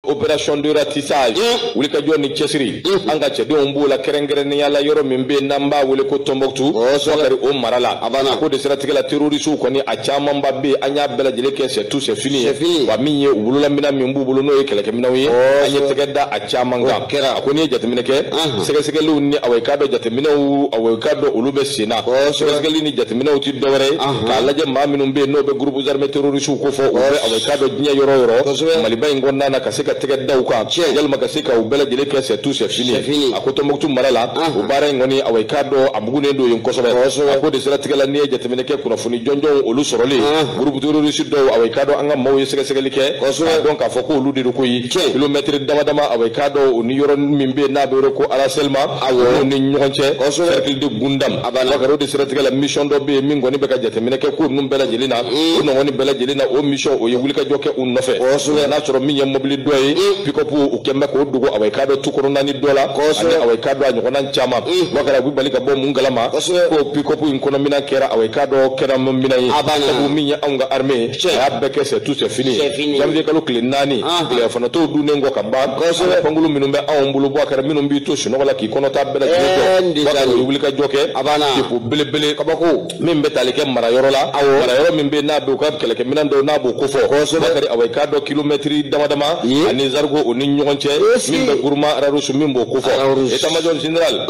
opération de ratissage mm. wulikajɔ ni cɛsiri mm. an ka cɛdenw b'o la kɛrɛnkɛrɛnnenya la yɔrɔ min bɛ n'an b'a wele ko tɔnbɔkutu wakari o mara la a ko de siratigɛ la terorisiw kɔni a camanba bɛ an y'a bɛɛ lajɛlen kɛ c'est tout c'est fini ye wa min ye u bololaminɛn min b'u bolo n'o ye kɛlɛkɛminɛnw ye an ye tɛgɛ da a caman kan a ko n'i ye jateminɛ kɛ sɛgɛsɛgɛliw ni awɔ i k'a dɔn jateminɛw awɔ i k'a dɔn olu bɛ sen na sɛgɛsɛgɛli ni jateminɛw tɛ dɔwɛrɛ ye k'a lajɛ maa minnu bɛ yen n'o bɛ groupe armé terroriste kofɔ u bɛ awɔ i k'a dɔn diɲɛ yɔrɔ yɔrɔ maliba in kɔnɔna na ka se ka tɛgɛ da u kan yalima ka se ka u bɛɛ lajɛlen kɛ c'est tout c'est fini a ko tɔnbukutu mara la o baara in kɔni awɔ i k'a dɔn a bugunnen don yen kosɛbɛ a ko de siratigɛ la n'i ye jateminɛ kɛ kunnafoni jɔnjɔnw olu sɔrɔlen groupe terroriste dɔw awɔ i k'a dɔn an ka maaw ye sɛgɛsɛgɛli kɛ k'a dɔn k'a fɔ ko olu de don koyi kilomɛtiri dama dama awɔ i k'a dɔn o ni yɔrɔ min bɛ yen n'a bɛ wele ko arasɛlima o ni ɲɔgɔn cɛ cercle de gundam a b'a la wakari o de siratigɛ la mission dɔ bɛ yen min kɔni bɛ ka jateminɛ kɛ ko ninnu bɛɛ lajɛlen na o nɔgɔni bɛɛ lajɛlen na o mission o ye wulikajɔ kɛ u nɔfɛ kosɛbɛ n'a sɔrɔ min ye mobili dɔ ye pick-up u kɛn bɛ k'o dogo awɔ i k'a dɔn tu kɔnɔnanin dɔ la kosɛbɛ ani awɔ i k'a dɔn a ɲɔgɔnna caman wakari u bɛ bali ka bɔ mun kalama kosɛbɛ ko pick-up in kɔnɔ minɛn kɛra awɔ i k'a dɔn kɛlɛminɛn ye a b'a la sabu min ye anw ka armée ye a y'a bɛɛ kɛ c'est tout c'est fini ye janvier kalo tile naani tilelafana to dunnen kɔ ka ban kosɛbɛ pankulu minnu bɛ anw bolo bakari minnu b'i to sunɔgɔ la k'i kɔnɔta bɛɛ lajɛlen jɔ wakari o wulikajɔ kɛ depo belebele kabako min bɛ tali kɛ marayɔrɔ la marayɔrɔ min bɛ n'a bɛ u ka kɛlɛkɛminɛn dɔw n'a b'o kofɔ kosɛbɛ wakari awa i k'a dɔn kilomɛtiri dama dama ani zarigo o ni ɲɔgɔn cɛ min bɛ guruma rarusu min b'o kofɔ état-major général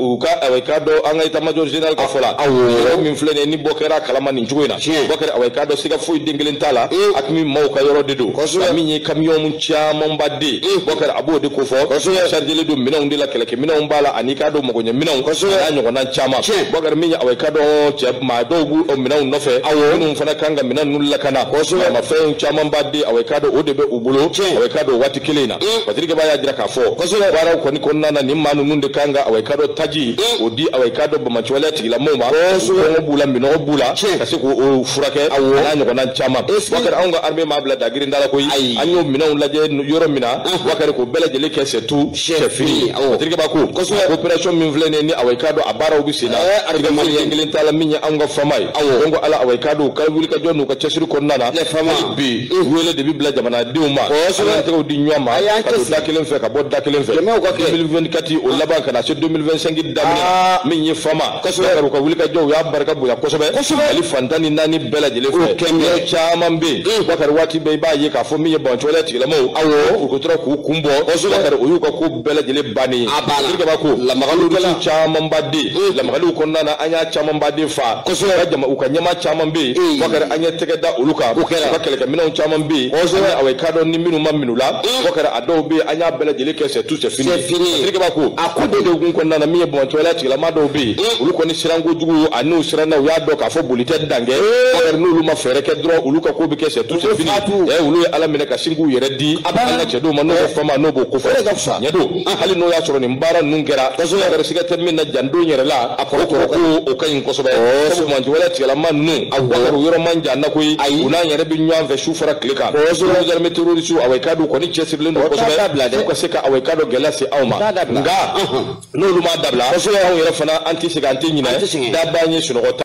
u ka awa i k'a dɔn an ka état-major général ka fɔ la awo min filɛ nin ye ni bɔ kɛra kalama nin cogo in na tiɲɛ bakari awa i k'a dɔn siga foyi den kelen t'a la aqmi maaw ka yɔrɔ de don a min ye kamiyɔn camanba de bakari a b'o de kofɔ sarijɛlen don minɛnw de la kɛlɛkɛminɛnw b'a la ani k'a dɔn magoɲɛ minɛnw a n'a ɲɔgɔnna caman bakari min ye awa i k'a dɔn cɛman dɔw b'o minɛnw nɔfɛ awɔ minnu fana kan ka minɛn ninnu lakana ma fɛnw camanba de awa i k'a dɔn o de bɛ u bolo awa i k'a dɔn waati kelen in na patirike ba y'a jira k'a fɔ baaraw kɔni kɔnɔna na nin maa ninnu de kan ka awa i k'a dɔn taji o di awa i k'a dɔn bamacɔlɛ tigilamɔgɔw ma kɔngɔ b'u la minɔgɔ b'u la ka se k'o furakɛ n'a ɲɔgɔnna caman wakari anw ka armée m'a bila dagirinda la koyi an y'o minɛnw lajɛ yɔrɔ min na wakari k'o bɛɛ lajɛlen kɛ c'est tout c'est fini terikɛba ko kosɛbɛ opération min filɛ nin ye ni awɔ i k'a dɔn a baaraw bɛ sen na terikɛba den kelen t'a la min ye anw ka fama ye donc ala awɔ i k'a dɔn u ka wulikajɔ n'u ka cɛsiri kɔnɔna na bi wele de bɛ bila jamanadenw ma an ka tɛgɛ di ɲɔgɔn ma ka don da kelen fɛ ka bɔ da kelen fɛ 2024 o laban ka na se 2025 daminɛ min ye fama kosɛbɛ u ka wulikajɔw y'a barika bonya kosɛbɛ mali fan tan ni naani bɛɛ lajɛlen fɛ yɔrɔ caman bɛ yen bakari waati bɛɛ i b'a ye k'a fɔ min ye bancɔlɛ tigilamaw awɔ u ko tora k'u kun bɔ bakari o y'u ka ko bɛɛ lajɛlen bannen ye terikɛba ko lamagaliw camanba de lamagaliw kɔnɔna na an y'a camanba de faga kosɛbɛ u ka ɲɛmaa caman bɛ yen bakari an ye tɛgɛ da olu kan bakari ka kɛlɛkɛminɛnw caman bɛ yen kosɛbɛ awɔ i k'a dɔn ni minnu ma minɛ u la bakari a dɔw bɛ yen an y'a bɛɛ lajɛlen kɛ c'est tout c'est fini sirikeba ko a ko de degun kɔnɔna na min ye bɔntɔla tigilama dɔw bɛ yen olu kɔni siranko jugu a n'u siranna u y'a dɔn k'a fɔ boli tɛ dan kɛ bakari n'olu ma fɛɛrɛ kɛ dɔrɔn olu ka ko bɛ kɛ c'est tout c'est fini ɛ olu ye ala minɛ ka sin k'u yɛrɛ di an ka cɛ dɔw ma n'o bɛ fama n'o b'o ko fɔ ɲɛdo hali n'o y'a sɔrɔ nin baara ninnu kɛra kosɛbɛ bakari siga tɛ min na can don yɛrɛ la a kɔrɔ kɔrɔ ko o ka ɲi kosɛbɛ sabu bɔntɔla tigilama ninnu a bakari yɔrɔ man jan an na koyi u n'an yɛrɛ bɛ ɲɔgɔn fɛ su fara tile kan soldat armé terroriste awɔ i k'a dɔn kɔni cɛsirilen don kosɛbɛ f'u ka se ka awɔ i k'a dɔn gɛlɛya se anw ma nka n'olu m'a dabila anw yɛrɛ fana an tɛ segin an tɛ ɲinɛ dabaa ye sunɔgɔ